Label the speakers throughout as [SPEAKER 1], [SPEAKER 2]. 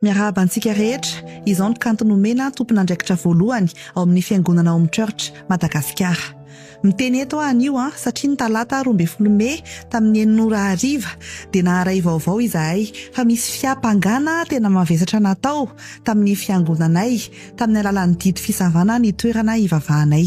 [SPEAKER 1] Miarahaba antsika rehetra, izao ny kanto nomena tompon'andraikitra voalohany ao amin'ny Fiangonana Home Church Madagasikara. Miteny eto aho anio an, satria ny talata roa ambin'ny folo mey tamin'ny enina ora hariva dia naharay vaovao izahay fa misy fiampangana tena mavesatra natao tamin'ny Fiangonanay tamin'ny alalan'ny didy fisavana ny toerana hivavahanay.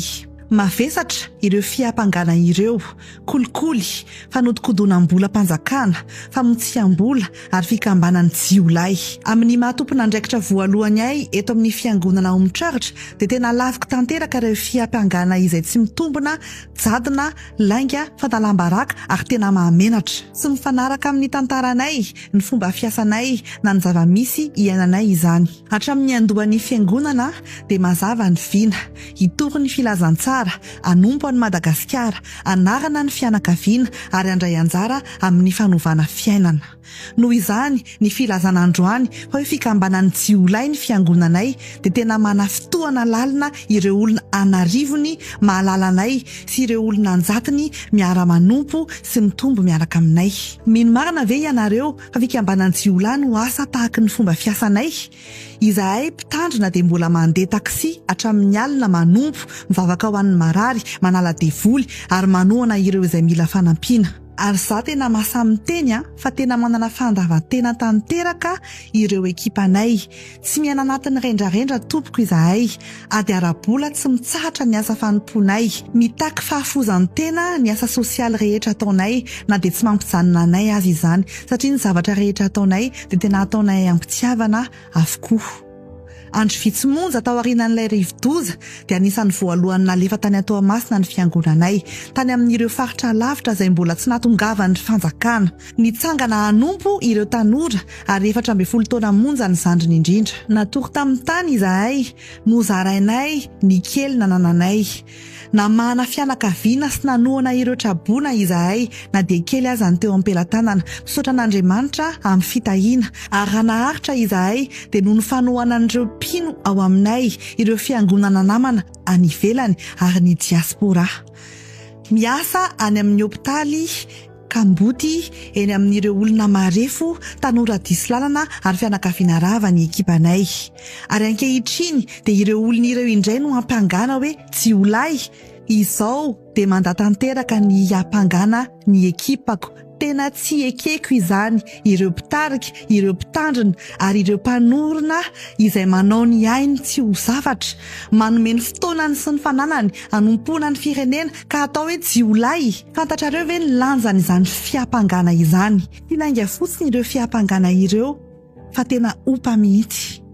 [SPEAKER 1] Mavesatra ireo fiampangana ireo. kolikoly, fanodikodonam-bolam-panjakana, famotsiam-bola ary fikambanan'ny jiolahy. Amin'ny maha tompon'andraikitra voalohany ahy eto amin'ny Fiangonana ao Mitraritra dia tena laviko tanteraka ireo fiampangana izay tsy mitombina, jadona, lainga, fanalam-baraka ary tena mahamenatra. Tsy mifanaraka amin'ny tantaranay, ny fomba fiasanay na ny zava-misy iainanay izany. Hatramin'ny niandohan'ny Fiangonana dia mazava ny vina, hitory ny filazantsara, hanompo an'i Madagasikara, hanarana ny fianakaviana ary handray anjara amin'ny fanovana fiainana. Noho izany, ny filazana androany fa hoe fikambanan'ny jiolahy ny fiangonanay dia tena manafitohana lalina ireo olona an'arivony mahalala anay sy ireo olona anjatony miara-manompo sy mitombo miaraka aminay. Mino marina ve ianareo fa fikambanan'ny jiolahy no asa tahaky ny fomba fiasanay? Izahay mpitandrina dia mbola mandeha taxi hatramin'ny alina manompo, mivavaka ho an'ny marary, manala devoly ary manohana ireo izay mila fanampiana. Ary za tena masa miteny a, fa tena manana fandavan-tena tanteraka ireo ekipanay. Tsy miaina anatin'ny rendrarendra tompoko izahay. Ady ara-bola tsy mitsahatra ny asa fanompoanay. Mitaky fahafoizan-tena ny asa sosialy rehetra ataonay, na dia tsy mampijanona anay aza izany, satria ny zavatra rehetra ataonay dia tena ataonay am-pitiavana avokoa. Andro vitsy monja taorianan'ilay rivodoza, dia anisan'ny voalohany nalefa tany Toamasina ny fiangonanay, tany amin'ireo faritra lavitra izay mbola tsy nahatongavan'ny fanjakana. Nitsangana hanompo ireo tanora ary efatra ambin'ny folo taona monja ny zandriny indrindra. Natory tamin'ny tany izahay, nozarainay ny kely nanananay. Namahana fianakaviana sy nanohana ireo traboina izahay, na dia kely aza ny teo am-pelatanana. Misaotra an'Andriamanitra amin'ny fitahiana, ary raha naharitra izahay, dia noho ny fanohanan'ireo mpino ao aminay, ireo fiangonana namana any ivelany, ary ny diaspora miasa any amin'ny hopitaly, Kamboty, eny amin'ireo olona marefo, tanora diso lalana ary fianakaviana rava ny ekipanay. Ary ankehitriny dia ireo olona ireo indray no hampangana hoe tsy ho lahy? Izao dia manda tanteraka ny hampangana ny ekipako. Tena tsy ekeko izany, ireo mpitarika, ireo mpitandrina ary ireo mpanorina izay manao ny ainy tsy ho zavatra, manome ny fotoanany sy ny fananany hanompoana ny firenena ka atao hoe jiolahy. Fantatrareo ve ny lanjan'izany fiampangana izany? Tsy lainga fotsiny ireo fiampangana ireo fa tena ompa mihitsy.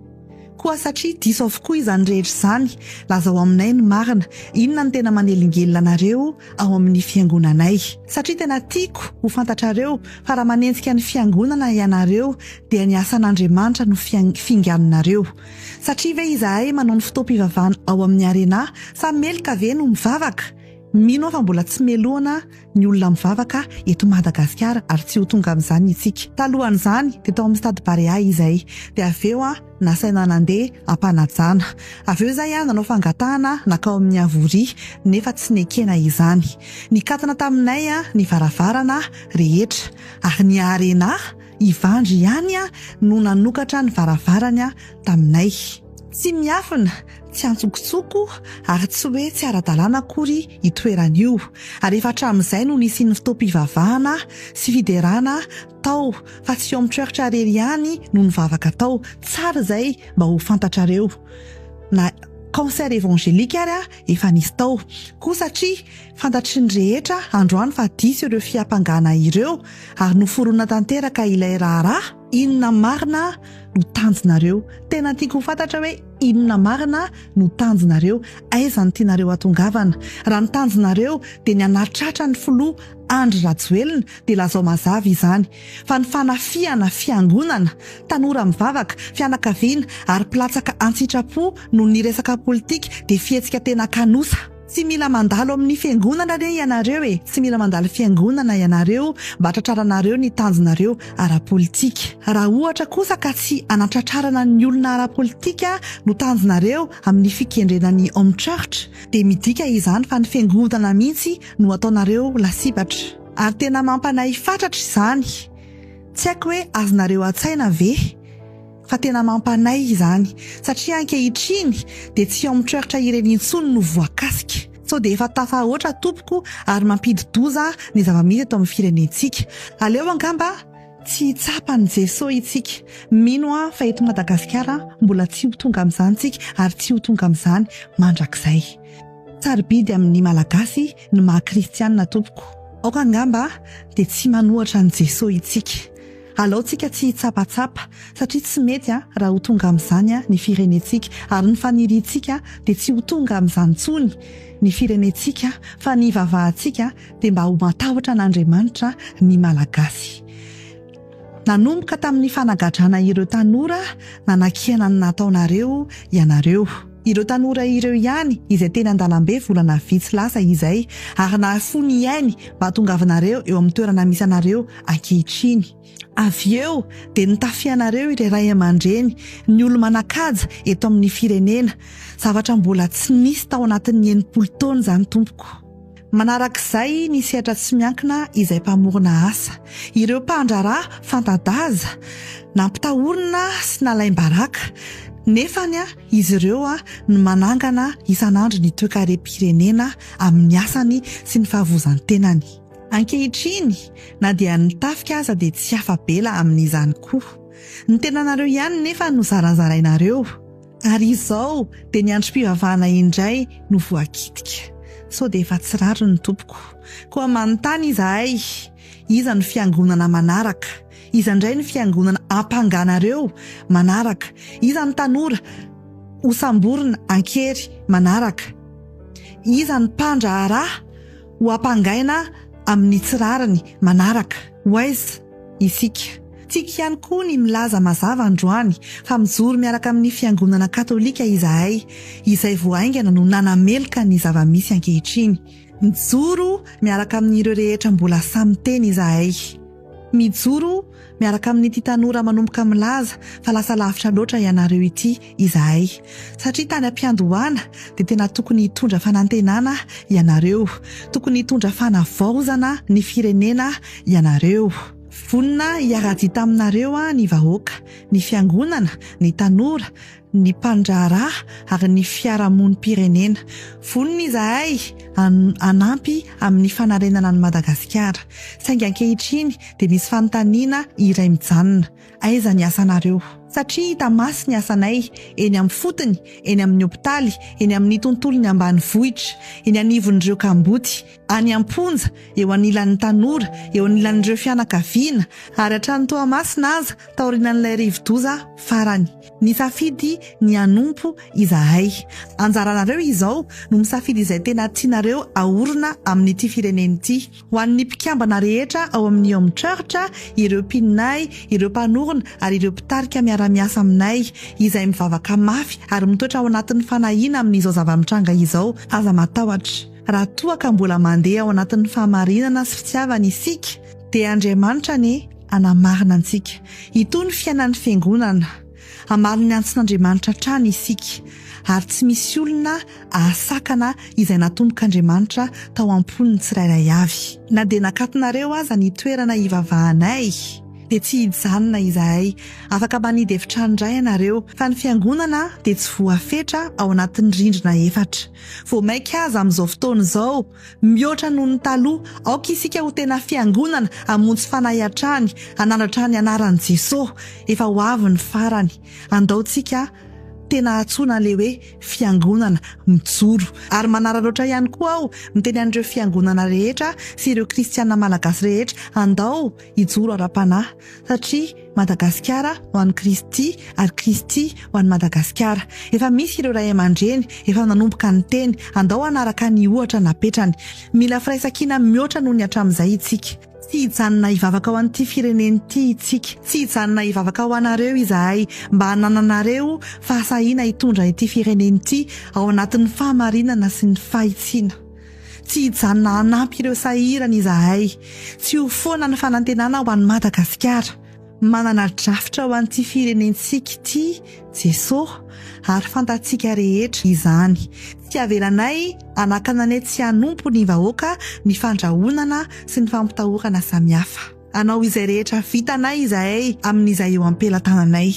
[SPEAKER 1] Koa satria diso avokoa izany rehetra izany, lazao aminay ny marina, inona no tena manelingelina anareo ao amin'ny fiangonanay? Satria tena tiako ho fantatrareo fa raha manenjika ny fiangonana ianareo dia ny asan'Andriamanitra no fianganinareo. Satria ve izahay manao ny fotoam-pivavahana ao amin'ny Arena samy meloka ve no mivavaka? Mino aho fa mbola tsy melohina ny olona mivavaka eto Madagasikara ary tsy ho tonga amin'izany isika. Talohan'izany dia tao amin'ny Stade Barea izahay dia avy eo nasaina nandeha am-panajana. Avy eo izahay nanao fangatahana nankao amin'ny Avoria nefa tsy nekena izany. Nikatona taminay ny varavarana rehetra ary ny Arena Ivandry ihany no nanokatra ny varavarany taminay. Tsy miafina, tsy antsokotsoko ary tsy hoe tsy ara-dalàna akory io toerana io, ary efa hatramin'izay no nisian'ny fotoam-pivavahana sy fiderana tao fa tsy Home Church irery ihany no nivavaka tao, tsara izay mba ho fantatrareo, na concert evangelique ary efa nisy tao koa satria Fantatry ny rehetra androany fa diso ireo fiampangana ireo ary noforonina tanteraka ilay raharaha. Inona marina no tanjonareo? Tena tiako ho fantatra hoe inona marina no tanjonareo? Aiza no tianareo hatongavana? Raha ny tanjonareo dia ny hanatratra ny filoha Andry Rajoelina dia lazao mazava izany fa ny fanafihana fiangonana, tanora mivavaka, fianakaviana ary mpilatsaka an-tsitrapo noho ny resaka politika dia fihetsika tena kanosa. Tsy mila mandalo amin'ny fiangonana anie ianareo e, tsy mila mandalo fiangonana ianareo mba tratraranareo ny tanjonareo ara-politika. Raha ohatra kosa ka tsy hanatratrarana ny olona ara-politika no tanjonareo amin'ny fikendrena ny home church dia midika izany fa ny fiangonana mihitsy no ataonareo lasibatra. Ary tena mampanahy fatratra izany. Tsy haiko hoe azonareo an-tsaina ve? fa tena mampanahy izany satria ankehitriny dia tsy ao amin'ny treurtra ireny intsony no voakasika, sao dia efa tafahoatra tompoko ary mampidi-doza ny zava-misy eto amin'ny firenentsika, aleo angamba tsy hitsapa an'i Jesoa itsika, mino aho fa eto Madagasikara mbola tsy ho tonga amin'izany tsika ary tsy ho tonga amin'izany mandrakizay. Sarobidy amin'ny Malagasy ny maha Kristianina tompoko, aoka angamba dia tsy manohatra an'i Jesoa itsika. Alaontsika tsy hitsapatsapa, satria tsy mety raha ho tonga amin'izany ny firenentsika, ary ny faniriantsika dia tsy ho tonga amin'izany intsony ny firenentsika, fa ny hivavahantsika dia mba ho matahotra an'Andriamanitra ny Malagasy. Nanomboka tamin'ny fanagadrana ireo tanora nanakiana ny nataonareo ianareo. Ireo tanora ireo ihany izay teny an-dalambe volana vitsy lasa izay, ary nahafoy ny ainy mba hahatongavanareo eo amin'ny toerana misy anareo ankehitriny. Avy eo dia nitafia anareo irey ray aman-dreny, ny olo-manan-kaja eto amin'ny firenena, zavatra mbola tsy nisy tao anatin'ny enimpolo taona izany tompoko. Manarak'izay ny sehatra tsy miankina izay mpamorona asa, ireo mpandraharaha fanta-daza, nampitahorina sy nalaim-baraka, nefany izy ireo no manangana isan'andro ny toekarem-pirenena amin'ny asany sy ny fahavozan-tenany. Ankehitriny, na dia ny tafika aza dia tsy afa-bela amin'izany koa. Ny tenanareo ihany nefa no zarazarainareo. Ary izao dia ny androm-pivavahana indray no voakitika. Sao dia efa tsy rariny ny tompoko. Koa manontany izahay, iza no fiangonana manaraka? Iza indray no fiangonana ampanganareo manaraka? Iza ny tanora hosamborina an-kery manaraka? Iza ny mpandraharaha? Ho ampangaina amin'ny tsy rariny manaraka, Waze, isika. Tiako ihany koa ny milaza mazava androany fa mijoro miaraka amin'ny Fiangonana Katolika izahay, izay vao haingana no nanameloka ny zava-misy ankehitriny. Mijoro miaraka amin'ireo rehetra mbola samy miteny izahay. Mijoro miaraka amin'ity tanora manomboka milaza fa lasa lavitra loatra ianareo ity izahay. Satria tany am-piandohana dia tena tokony hitondra fanantenana ianareo, tokony hitondra fanavaozana ny firenena ianareo. Vonona hiara-dia taminareo ny vahoaka, ny fiangonana, ny tanora, ny mpandraharaha ary ny fiarahamonim-pirenena. Vonona izahay hanampy amin'ny fanarenana an'i Madagasikara. Saingy ankehitriny dia misy fanontaniana iray mijanona, aiza ny asanareo? Satria hita maso ny asanay, eny amin'ny fotony, eny amin'ny hopitaly, eny amin'ny tontolon'ny ambanivohitra, eny anivon'ireo kamboty, any am-ponja, eo anilan'ny tanora, eo anilan'ireo fianakaviana, ary hatrany Toamasina aza, taorianan'ilay rivodoza farany. Nisafidy ny hanompo izahay. Anjaranareo izao no misafidy izay tena tianareo aorina amin'ity firenena ity. Ho an'ny mpikambana rehetra ao amin'ny Home Church, ireo mpinonay, ireo mpanorina ary ireo mpitarika miara-miasa aminay, izay mivavaka mafy ary mitoetra ao anatin'ny fanahiana amin'izao zava-mitranga izao, aza matahotra. Raha toa ka mbola mandeha ao anatin'ny fahamarinana sy fitiavana isika, Dia Andriamanitra anie hanamarina antsika. Itony ny fiainan'ny Fiangonana. Hamaly ny antsin'Andriamanitra hatrany isika. Ary tsy misy olona hahasakana izay natombok'Andriamanitra tao am-pon'ny tsirairay avy. Na dia nakatonareo aza ny toerana hivavahanay, dia tsy hijanona izahay. Afaka manidy efitrano indray ianareo. Fa ny Fiangonana dia tsy voafetra ao anatin'ny rindrina efatra. Vao mainka aza amin'izao fotoana izao, Mihoatra noho ny taloha, aoka isika ho tena fiangonana hamonjy fanahy hatrany, hanandratra ny anaran'i Jesosy. Efa ho avy ny farany. Andaontsika tena hantsoina an'ilay hoe fiangonana mijoro. Ary manararaotra ihany koa aho miteny an'ireo fiangonana rehetra sy ireo kristiana malagasy rehetra, andao hijoro ara-panahy satria Madagasikara ho an'i Kristy ary Kristy ho an'i Madagasikara. Efa misy ireo ray aman-dreny efa nanomboka niteny, andao hanaraka ny ohatra napetrany. Mila firaisankina mihoatra noho ny hatramin'izay isika. Tsy hijanona hivavaka ho an'ity firenena ity isika. Tsy hijanona hivavaka ho anareo izahay mba hanananareo fahasahiana hitondra ity firenena ity ao anatin'ny fahamarinana sy ny fahitsiana. Tsy hijanona hanampy ireo sahirana izahay. Tsy ho foana ny fanantenana ho an'i Madagasikara. Manana drafitra ho an'ity firenentsika ity Jesoa ary fantatsika rehetra izany. Tsy avelanay hanakana ny tsy hanompo ny vahoaka ny fandrahonana sy ny fampitahorana samihafa. Hanao izay rehetra vitanay izahay amin'izay eo am-pelatananay,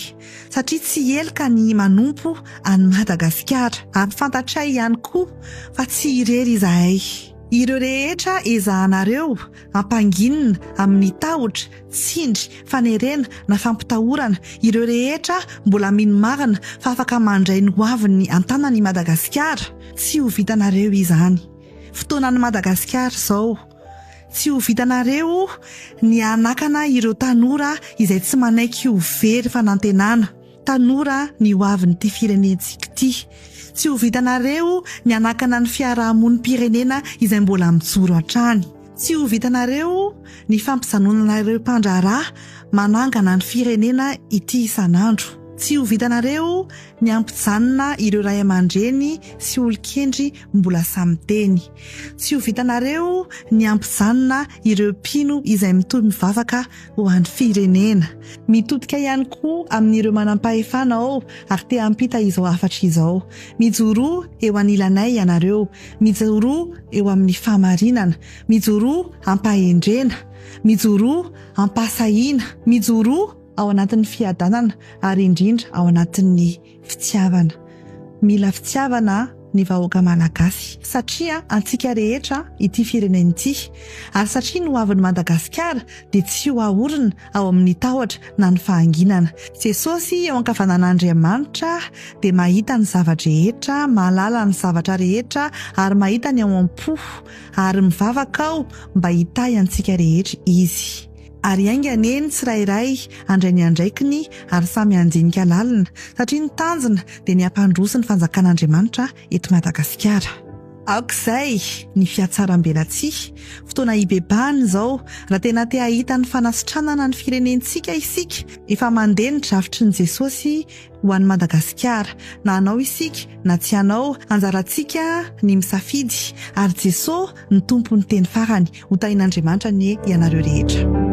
[SPEAKER 1] satria tsy heloka ny manompo an'i Madagasikara. Ampifantatray ihany koa fa tsy irery izahay. Ireo rehetra ezahanareo hampanginina amin'ny tahotra, tsindry, fanerena na fampitahorana, ireo rehetra mbola mino marina fa afaka mandray ny hoaviny an-tanana i Madagasikara, tsy ho vitanareo izany. Fotoanan'i Madagasikara izao. Tsy ho vitanareo ny hanakana ireo tanora izay tsy manaiky ho very fanantenana, tanora ny ho avin'ity firenentsika ity. Tsy ho vitanareo ny hanakana ny fiarahamonim-pirenena izay mbola mijoro hatrany. Tsy ho vitanareo ny fampijanonana ireo mpandraharaha manangana ny firenena ity isan'andro. Tsy ho vitanareo ny hampijanona ireo ray aman-dreny sy olon-kendry mbola samy teny. Tsy ho vitanareo ny hampijanona ireo mpino izay mitory mivavaka ho an'ny firenena. Mitodika ihany koa amin'ireo manam-pahefana ao ary te hampita izao hafatra izao. Mijoroa eo anilanay ianareo. Mijoroa eo amin'ny fahamarinana. Mijoroa am-pahendrena. Mijoroa am-pahasahiana. Mijoroa ao anatin'ny fiadanana ary indrindra ao anatin'ny. Fitiavana. Mila fitiavana ny vahoaka malagasy satria antsika rehetra ity firenena ity ary satria ny hoavin'i Madagasikara dia tsy ho ahorina ao amin'ny tahotra na ny fahanginana. Jesosy eo ankavanan'Andriamanitra dia mahita ny zava-drehetra, mahalala ny zavatra rehetra ary mahita ny ao am-po ary mivavaka aho mba hitahy antsika rehetra Izy. Ary hainga anie ny tsirairay handray ny andraikiny ary samy handinika lalina, satria ny tanjona dia ny hampandroso ny fanjakan'Andriamanitra eto Madagasikara. Aoka izay ny fihatsarambelatsihy, fotoana hibebahana izao, raha tena te hahita ny fanasitranana ny firenentsika isika, efa mandeha ny drafitry ny Jesosy, ho an'i Madagasikara. Na anao isika na tsy anao, anjarantsika ny misafidy, ary Jesoa no Tompon'ny teny farany. Hotahian'Andriamanitra anie ianareo rehetra.